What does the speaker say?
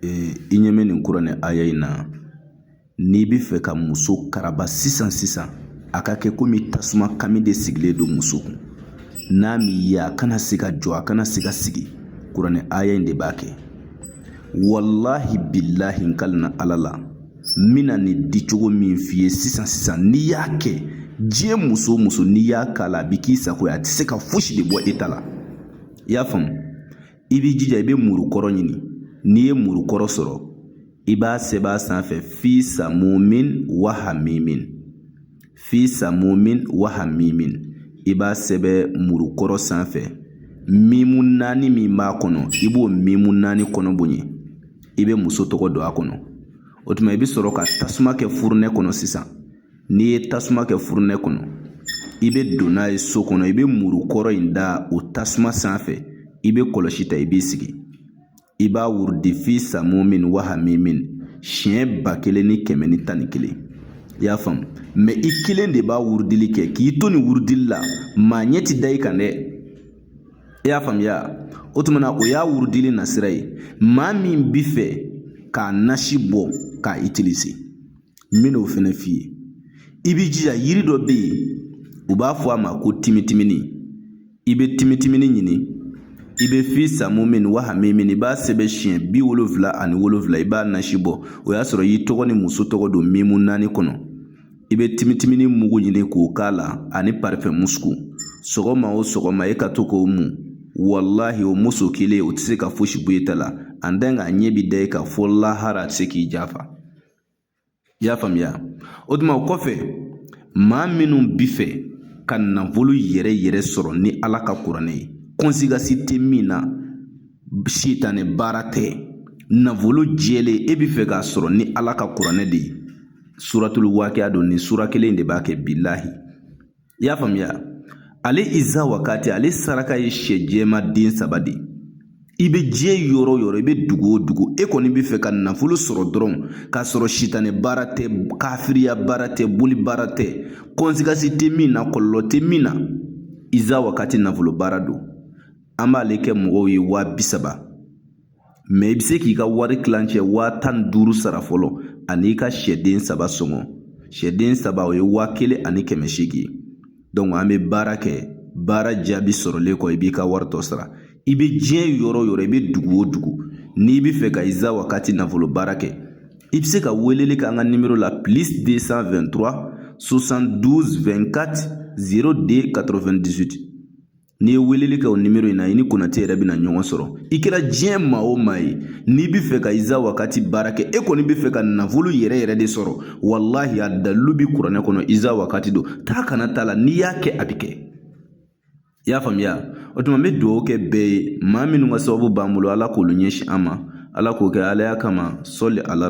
i ɲɛ bɛ nin kuranɛ aya in na n'i bɛ fɛ ka muso karaba sisan sisan a ka kɛ komi tasuma kami de sigilen don muso kun n'a m'i ye a kana se ka jɔ a kana se ka sigi kuranɛ aya in de b'a kɛ walahi bilahi n kalina ala la n bɛna nin di cogo min f'i ye sisan sisan n'i y'a kɛ diɲɛ muso o muso n'i y'a k'a la a bɛ k'i sago ye a tɛ se ka fosi de bɔ e ta la i y'a faamu i b'i jija i bɛ muru kɔrɔ ɲini n'i ye muru kɔrɔ sɔrɔ i b'a sɛbɛn a sanfɛ fi samumin wa hamimin fi samumin wa hamimin i b'a sɛbɛn muru kɔrɔ sanfɛ mimu naani min b'a kɔnɔ i b'o mimu naani kɔnɔ bonya i bɛ muso tɔgɔ don a kɔnɔ o tuma i bɛ sɔrɔ ka tasuma kɛ furunɛ kɔnɔ sisan n'i ye tasuma kɛ furunɛ kɔnɔ i bɛ don n'a ye so kɔnɔ i bɛ muru kɔrɔ in da o tasuma sanfɛ i bɛ kɔlɔsi ta i b'i sigi i b'a wurudi fi samumin wa hamimin siɲɛ ba kelen ni kɛmɛ ni tan ni kelen i y'a faamu mɛ i kelen de b'a wurudili kɛ k'i to nin wurudili la maa ɲɛ ti da i kan dɛ i y'a faamuya o tuma na o y'a wurudili nasira ye maa min bi fɛ k'a nasi bɔ k'a itilize n bɛn'o fɛnɛ f'i ye i b'i jija yiri dɔ bɛ yen u b'a fɔ a ma ko timitimini i bɛ timitimini ɲini i bɛ fi samumin wa hamimin i b'a sɛbɛn siɲɛ bi wolonfila ani wolonfila i b'a nasi bɔ o y'a sɔrɔ i tɔgɔ ni muso tɔgɔ don mimu naani kɔnɔ i bɛ timitimini mugu ɲini k'o k'a la ani parifɛn musuku sɔgɔma o sɔgɔma e ka to k'o mun walahi o muso kelen o tɛ se ka fosi bɔ e ta la an tan k'a ɲɛ bi da e kan fo lahara a tɛ se k'i jafa i y'a faamuya o tuma o kɔfɛ maa minnu bi fɛ ka nafolo yɛrɛ yɛrɛ sɔrɔ ni ala ka kuranɛ ye kɔnsigasi tɛ min na sitanɛ baara tɛ nafolo jɛlen e bi fɛ k'a sɔrɔ ni ala ka kuranɛ de ye suratulu wakiya don nin sura kelen de b'a kɛ bilahi i y'a faamuya ale iza wakati ale saraka ye sɛ jɛman den saba de ye i bɛ diɲɛ yɔrɔ o yɔrɔ i bɛ dugu o dugu e kɔni bɛ fɛ ka nafolo sɔrɔ dɔrɔn k'a sɔrɔ sitanɛ baara tɛ kafiriya baara tɛ boli baara tɛ kɔnsigasi tɛ min na kɔlɔlɔ tɛ min na iza wakati nafolo baara don an b'ale kɛ mɔgɔw ye waa bi saba mɛ i bɛ se k'i ka wari kilancɛ waa tan ni duuru sara fɔlɔ ani i ka sɛden saba sɔngɔ sɛden saba o ye waa kelen ani kɛmɛ seegin ye dɔnku an bɛ baara kɛ baara jaabi sɔrɔlen kɔ i b'i ka wari tɔ sara i bɛ diɲɛ yɔrɔ o yɔrɔ i bɛ dugu o dugu n'i bɛ fɛ ka iza wakati nafolo baara kɛ i bɛ se ka weleli kɛ an ka nimero la plus 223 72 24 02 98 N'i ye weleli kɛ o nimoro in na i ni Konate yɛrɛ bɛna ɲɔgɔn sɔrɔ i kɛra diɲɛ maa o maa ye n'i bɛ fɛ ka Iza Wakati baara kɛ e kɔni bɛ fɛ ka nafolo yɛrɛ yɛrɛ de sɔrɔ walahi a dalilu bɛ kuranɛ kɔnɔ Iza Wakati don taa ka na t'a la n'i y'a kɛ a bɛ kɛ i y'a faamuya o tuma n bɛ dugawu kɛ bɛɛ ye maa minnu ka sababu b'an bolo ala k'olu ɲɛsin an ma ala k'o kɛ alaya kama sɔli ala